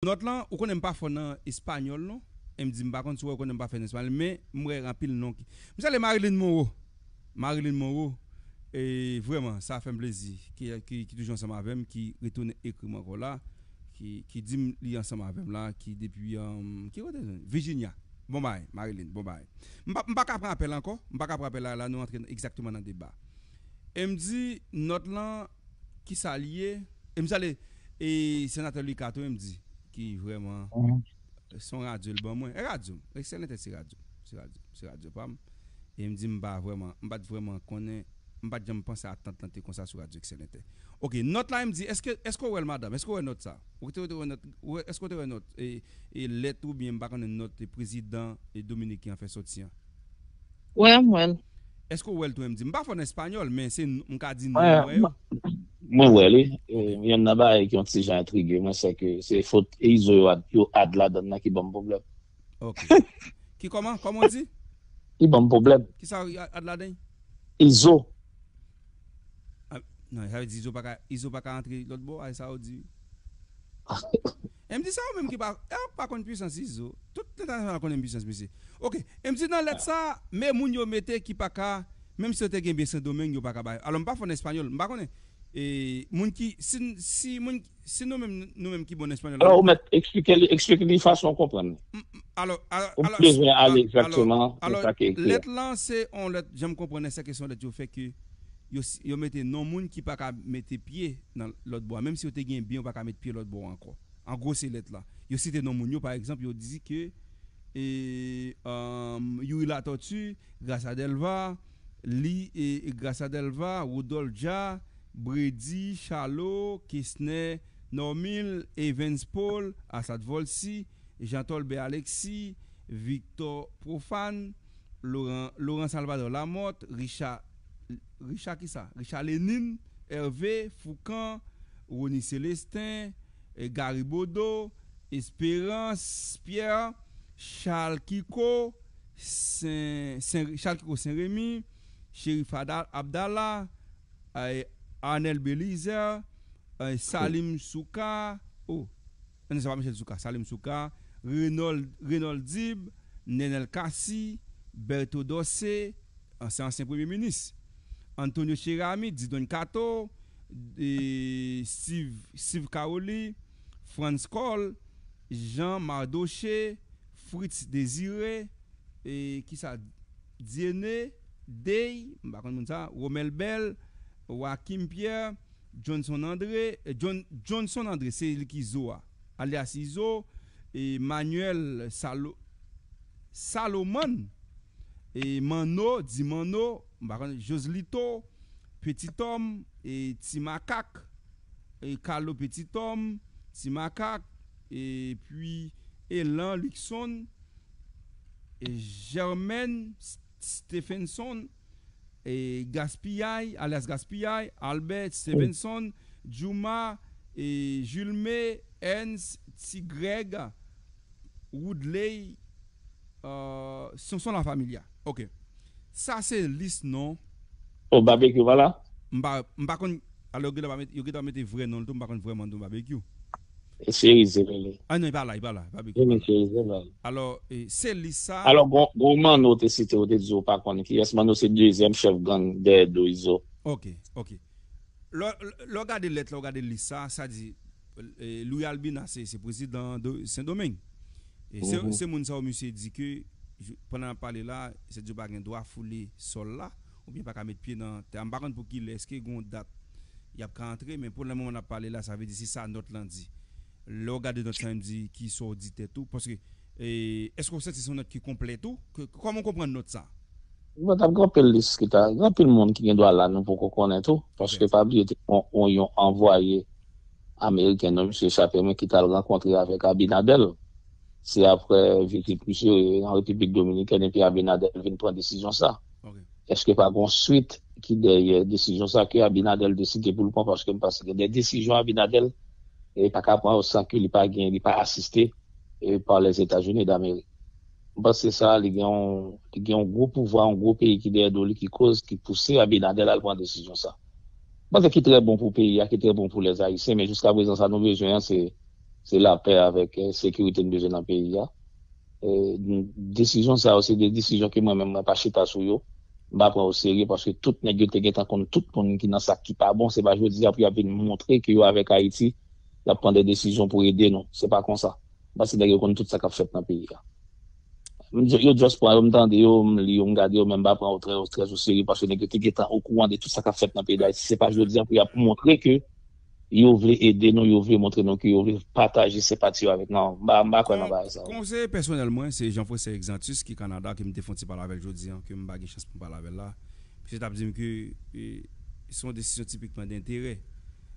Nòt lan, ou konnen m pa fò nan espanyòl non, e m di m pa konn si w wè ou konnen m pa fò nan espanyòl, men m wè anpil non ki. M salye Marilyn Monroe! Marilyn Monroe, e vrèman sa fè m plezi ki ki ki toujou ansanm avè m, ki retounen ekri m ankò la, ki ki di m li ansanm avè m la, ki depi ki kote nou? Virginia! Bon bagay Marilyn, bon bagay. M pa m pa ka pran apèl ankò, m pa ka pran apèl la, la nou antre egzakteman nan deba. E m di nòt lan. Kisa li ye? E m salye e senatè Lucas tou e m di ki vrèman son radyo l ban mwen. E radyo m, Excelente se radyo m, se radyo m, se radyo pa m. E m di m pa vrèman, m pa t vrèman konnen, m pa t janm panse atant lan te konsa sou radyo Excelente. Ok, nòt la e m di eske, eske w wè l madanm, eske w wè nòt sa? Ou te, ou te wè nòt, ou wè, eske w te wè nòt e, e lèt oubyen m pa konnen nòt prezidan Dominiken an fè sòti an? Wè m wèl. Eske w wèl tou MD? M pa fò nan español men se m ka di non m wè yo. Mwen wè li, yonn nan bagay ki yon ti jan entrige mwen sè ke se fot e izo yo ad yo ad ladann nan ki banm pwoblèm. Ok. Ki kòman? Kòman w di? Ki banm pwoblèm. Kisa yo ad ladan? Izo. Ah nan sa vle di izo paka izo paka antre lòt bò a e sa ou di? Emdi sa ou menm ki pa ou pa konn pwisans izo tout entènasyonal konnen pwisans mesye ok emdi nan lèt sa me moun yo mete ki pa ka menm si yo te genbe sendomeng yo pa ka ba yo alò m pa fò nan espanyòl m pa konnen moun ki si si moun si nou menm nou menm ki bon nan espanyòl alò ou mèt eksplike li eksplike li fason ou konprann alò alò ou pa bezwen ale egzakteman nan sa ki ekri a. Lèt lan se yon lèt jan m konprann se ke se yon lèt yo fè ke. Yo mete non moun ki pa ka mete pye nan lòt bò a. Menm si yo te genyen byen yo pa ka met pye lòt bò a ankò. An gwo se lèt la. Yo site non moun yo pa egzanp yo di ke e Youri Latòti, Grasa Dèlva, li e Grasa Dèlva, Woudòlf Dja, Bredi, Chalo, Kesnè, Nòmil, Evens Pol, Asad Vòlsi, Jan Tòlbè Aleksi, Viktò Pwofàn, Loran Loran Salvadò Lamòt, Richa Richard kisa? Richard Lénine, Hervé, Foucan, Rony Célestin, Gary Bodeau, Espérance Pierre, Charles Kiko, Charles Kiko Saint Rémy, Chérif Abdallah, Arnel Bélizaire, Salim Soukar, oh. Nan sa pa Michel Soukar, Salim Soukar, Renold, Renold Dib, Nenel Cassy, Bertho Dorcé, ansyen ansyen premye minis, Antonio Cheramy, Didon Kato, e Steve, Steve Caroli, Frantz Kohl, Jean Mardoché, Fritz Désiré, e ki sa Dieuné, Dey, m pa konn moun sa, Romel Bell, Joachim Pierre, Johnson André, John, Johnson André, se li ki Zo a, alyas Izo, e Manuel Salo, Salomon, e Manno, di Manno, m pa konnen, Joselito, Petit Homme, e Ti Makak, e Carlo Petit Homme, Ti Makak, e pi Elan Luckson, e Germaine Stephenson. Gaspiyay, alyas Gaspiyay, Albert, Stevenson, Djouma, Julme, Ernst, Ti Grèg, Woodley, Sonson Lafamilya. Ok. Sa se lis non. Oh Babekyou pa la? M pa konn. Alò yo gentan pa mete vrè non l tou m pa konn vrè man non Babekyou. Seri Zebele. Ah non, e pa la, e pa la, e pa big up a la. Seri Zebele. Alò, se lis sa. Alò, gon Manno ou te site, ou te di ou pa konn kiyès. Manno se dezyèm chèf gang dèyè do Izo. Ok, ok. Lè w gade lèt la, ou gade lis sa, sa di Louis Albina se prezidan Sendomeng. Se moun sa yo misye di ke pandan l ap pale la, se di yo pa gen dwa foule sòl la. Ou byen pa ka met pye nan tè a. M pa konn pou kilè. Eske gen yon dat y ap ka antre? Men pou lè moman n ap pale la, sa vle di se sa nòt lan di. Lè w gade nòt sa menm di ki sa w di tèt ou. Paske eske w santi se yon nòt ki konplè tou? Kòman w konprann nòt sa? Nòt ap gen anpil lis ki ta. Gen anpil moun ki gen dwa la nou poko konnen tou. Paske pa bliye te gen yon anvwaye ameriken non misye chape men ki t al rankontre avèk Abinader. Se aprè vizit misye an Repiblik Dominikèn epi Abinader vin pran desizyon sa. Eske pa gon swit ki dèyè desizyon sa ke Abinadel deside pou l pran paske m panse gen de desizyon Abinadel pa ka pran yo san ke li pa gen li pa asiste pa Lèzetazini Damerik. M panse sa li gen yon li gen yon gwo pouvwa yon gwo peyi ki dèyè do li ki koz ki pouse Abinadel al pran desizyon sa. M panse ki trè bon pou peyi a ki trè bon pou Lèzayisyen men jiskaprezan sa nou bezwen an se Se lapè avèk sekirite n bezwen nan peyi a. Desizyon sa yo se de desizyon ke mwen menm mwen pa chita sou yo, m pa pran oserye paske tout nèg yo te gentan konn tout moun ki nan sa ki pa bon, se pa jodi a pou y ap vin montre ke yo avèk Ayiti, y ap pran de desizyon pou ede nou. Se pa konsa. Paske nèg yo konn tout sa k ap fèt nan peyi a. Yo just pran yo, m tande yo, m li yo, m gade yo men m pa pran yo trèzoserye paske nèg yo te gentan okouran de tout sa k ap fèt nan peyi Dayiti. Se pa jodi a pou y ap montre ke Yo vle ede nou, yo vle montre nou ke yo vle pataje senpati yo avèk nou. M pa kwè nan bagay sa yo. Konseye pèsonèl mwen, se Jean Faucet Exantus ki Kanada ke m te fon ti pale avè l jodi an, ke m pa gen chans pou m pale avè l la. Misye t ap di m ke se yon desizyon tipikman denterè.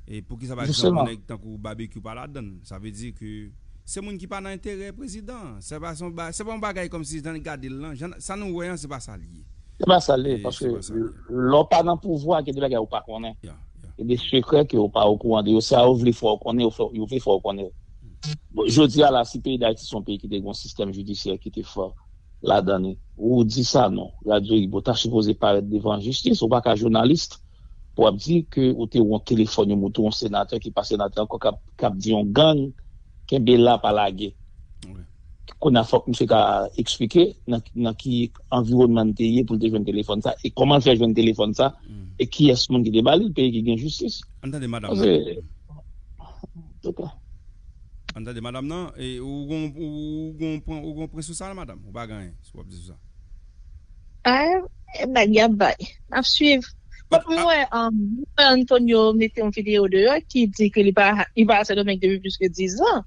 E poukisa pa egzanp yon nèg tankou Babekyou pa ladan l? Sa vle di ke se moun ki pa nan enterè prezidan an. Se pa yon bagay kòmsi jan n gade l lan, sa nou wè an se pa sa l ye. Se pa sa l ye, paske lè w pa nan pouvwa gen de bagay ou pa konnen, gen de sekrè ke ou pa okouran de yo, sa yo vle fè w konnen yo vle fè w konnen l. Jodi a la si peyi Dayiti se yon peyi ki te gen yon sistèm jidisyè ki te fò ladan li, Roody Sanon, Radio Ibo ta sipoze parèt devan jistis, ou pa ka journaliste. pou ap di ke ou te wont telefòn yon mouton yon senatè ki pa senatè ankò kap di yon gang kenbe la pa lage kounya fòk misye ta eksplike nan ki anviwònman li te ye pou li te jwenn telefòn sa e kòman li fè jwenn telefòn sa e kiyès moun ki te ba li l peyi ki gen jistis an tande madam nan an tande madam nan ou gon pwen sou sa madam ou pa gen anyen sou wap di sou sa. Ayy bagy yo ap bay nap swiv. Mwen wè Luis Antonio mete yon video deyò ki di ke li pa a sendomeng depi plis ke 10 zan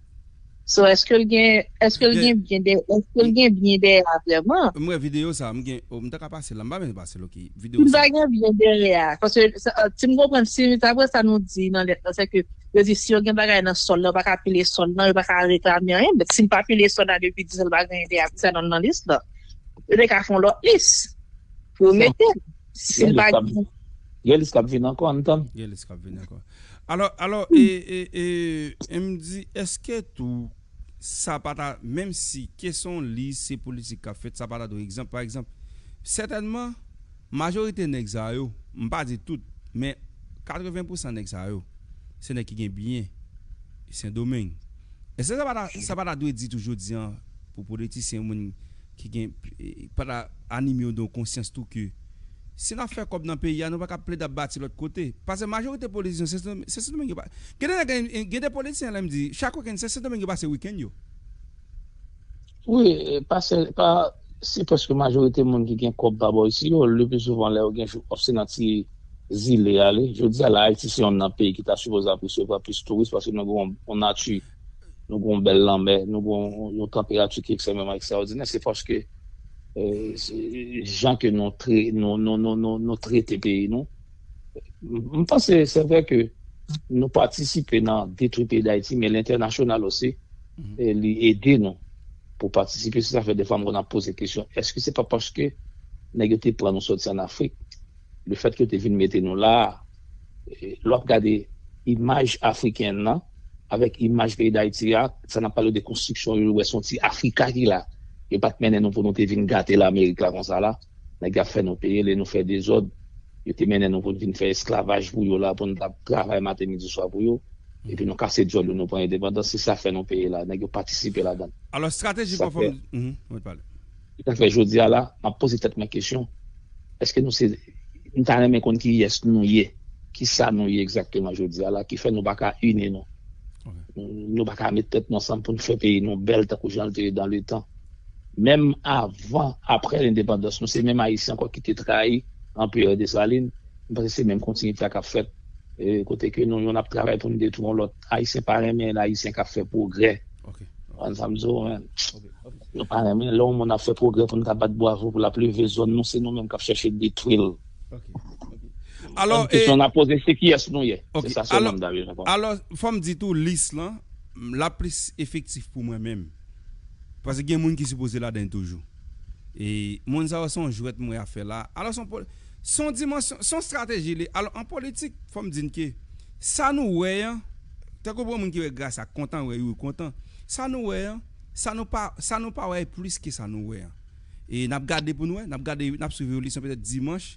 so eskel gen eskel gen byen dèyè eskel gen byen dèyè a vrèman. M wè video sa m gen oh m ta ka pase la m pa menm pase l ok video sa. Si l pa gen byen dèyè a paske si m konprann si daprè sa nou di nan lèt lan se ke yo di si yo gen bagay nan sòl lan yo pa ka pile sòl lan yo pa ka reklame anyen bèt si l pa pile sòl la depi 10 zan l pa gen dèyè a poukisa l nan lis lan. Yo te ka fè yon lòt lis pou yo mete l. Si l pa gen. Gen lis k ap vini ankò, ann tann. Gen lis k ap vini ankò. Alò, alò, e m di, èske tou sa pa ta, menm si ke se yon lis, se politik k ap fèt, sa pa ta dwe egzanp, pa egzanp, sètènman, majorite nèg sa yo, m pa di tout, men 80 pou san nèg sa yo, se nèg ki gen byen Sendomeng. Èske sa pa ta, sa pa ta dwe di tou jodi an pou politisyen moun. ki gen pata anime yo don konsyans tou ke si nap fè kòb nan peyi a nou paka plede ap bati lòt kote pase majorite politisyen se sendomengue yo gen de nèg gen de politisyen lèm di chak weekend se sendomengue yo pase weekend yo. Wi pase pa se preske majorite moun ki gen kòb pa bò isi yo le pi souvan lè yo gen jou off se nan ti zile ale jodi a la ayiti se yon nan peyi ki ta sipoze ap resevwa plis touris paske nou gen yon nati nou gen yon bèl lanmè, nou gen yon tanperati ki ekstrèmeman ekstraòdinè, se paske jan ke nou trete peyi nou. M panse se vre ke nou patisipe nan detwi peyi Dayiti, men lentènasyonal osi li ede nou pou patisipe. Se sa fè defwa m konn ap poze kesyon, èske se pa paske nèg yo te pran nou sòti an Afrik? Le fèt ke yo te vin mete nou la a, lè w ap gade imaj Afriken nan avèk imaj peyi Dayiti a, sa n ap pale de konstriksyon yo, yo wè se yon ti Afrika ki la. Yo pa t mennen nou pou nou te vin gate Lamerik la konsa la. Nèg yo ap fè nou peye lè nou fè dezòd. Yo te mennen nou pou n vin fè esklavaj pou yo la, pou n ta travay maten, midi, swa pou yo. Epi nou kase dyòl nou, nou pran endepandans. Se sa fè nou peye la. Nèg yo patisipe ladan l. Alò estrateji konfòm, Sa fè. Mèt pale. Se sa k fè jodi a la, m ap poze tèt mwen kesyon, èske nou se, m ta renmen konn kiyès nou ye, ki sa nou ye egzakteman jodi a la ki fè nou pa ka ini nou, nou pa ka met tèt nou ansanm pou nou fè peyi nou bèl tankou jan l te ye dan le tan. Menm avan, aprè lendepandans, nou se menm Ayisyen ankò ki te trayi Anperè Desalin, m panse se menm kontinyite a k ap fèt, kote ke nou youn ap travay pou nou detwi yon lòt. Ayisyen pa renmen ayisyen kap fè pwogrè an sa m di w menn yo pa renmen lè yon moun ap fè pwogrè pou n ta bat bwavo pou l ap leve zòn nou se nou menm kap chèche detwi l kesyon n ap poze se kiyès nou ye se sa sèlman m ta vle reponn alò fò m di tou lis lan l ap plis efektif pou mwen menm paske gen moun ki sipoze ladan l toujou e moun sa yo se yon jwèt m wè y ap fè la alò se yon se yon dimansyon se yon estrateji li ye alò an politik fò m di n ke Sa nou wè an, tankou bon moun ki wè Grasa kontan wè Youri kontan, sa nou wè an, sa nou pa, sa nou pa wè e plis ke sa nou wè an. E n ap gade pou n wè, n ap gade, n ap swiv evolisyon petèt dimanch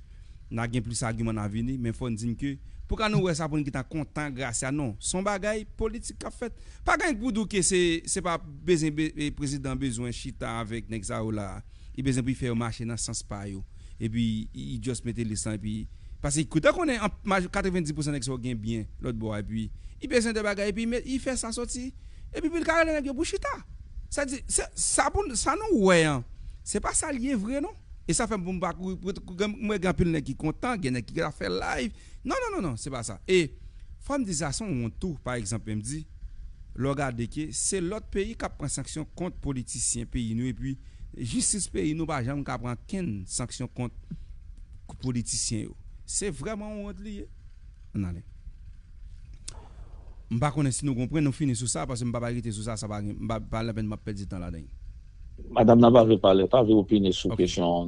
na gen plis agiman na vini men fò n di n ke pou ka nou wè sa pou n gentan kontan Gracia non, s on bagay politik k ap fèt. Pa gen pou di w ke se, se pa bezwen prezidan bezwen chita avèk nèg sa yo la a. li bezwen pou fè yo mache nan sans pa yo epi li just mete lis lan epi paske kout a konnen an maj 90 pousan nèg sa yo gen byen lòt bò a epi li bezwen de bagay epi met li fè sa sòti epi pou li ka rele nèg yo pou chita sa di se sa pou n sa nou wè an se pa sa l ye vre non e sa fè m pou m pa kouri m wè gen anpil nèg ki kontan gen nèg ki ta fè live. Non non non non se pa sa e fòm di sa son wont tou pa egzanp menm di lè w gade ke se lòt peyi kap pran sanksyon kont politisyen peyi nou epi jistis peyi nou pa janm ka pran kenn sanksyon kont politisyen yo se vrèman yon wont li ye ann ale m pa konnen si nou konprann nou fini sou sa paske m pa bay rete sou sa sa pa gen pa lapenn map pèdi tan ladan. Madam nan pa vle pale pa vle opine sou kesyon an.